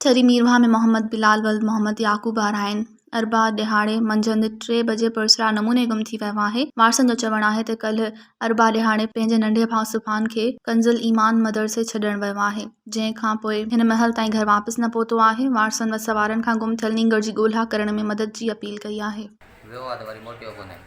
ڇري ميرواهه ۾ محمد بلال ولد محمد يعقوب آرائين اربع ڏهاڙي منجهند ٽي بجي پراسرار نموني گم ٿي ويو آهي. وارثن جو چوڻ آهي ته ڪلهه اربع ڏهاڙي پنهنجي ننڍي ڀاء سبحان کي ڪنزالايمان مدرسي ڇڏڻ ويو آهي، جنهن کانپوء هن مهل تائين گهر واپس نه پهتو آهي. وارثن وسوارن کان گم ٿيل نينگر جي ڳولها ڪرڻ ۾ مدد جي اپيل ڪئي آهي. ويو آ ته وري موٽيو ڪونهي.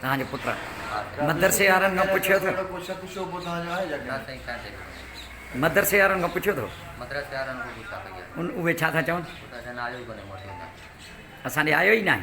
توهان جو پٽ مدرسي وارن کان پڇيو ٿو. مدرسي وارن کان پڇيو ٿو. اهي ڇا ٿا چون. اسان ڏي آيو ئي ناهي.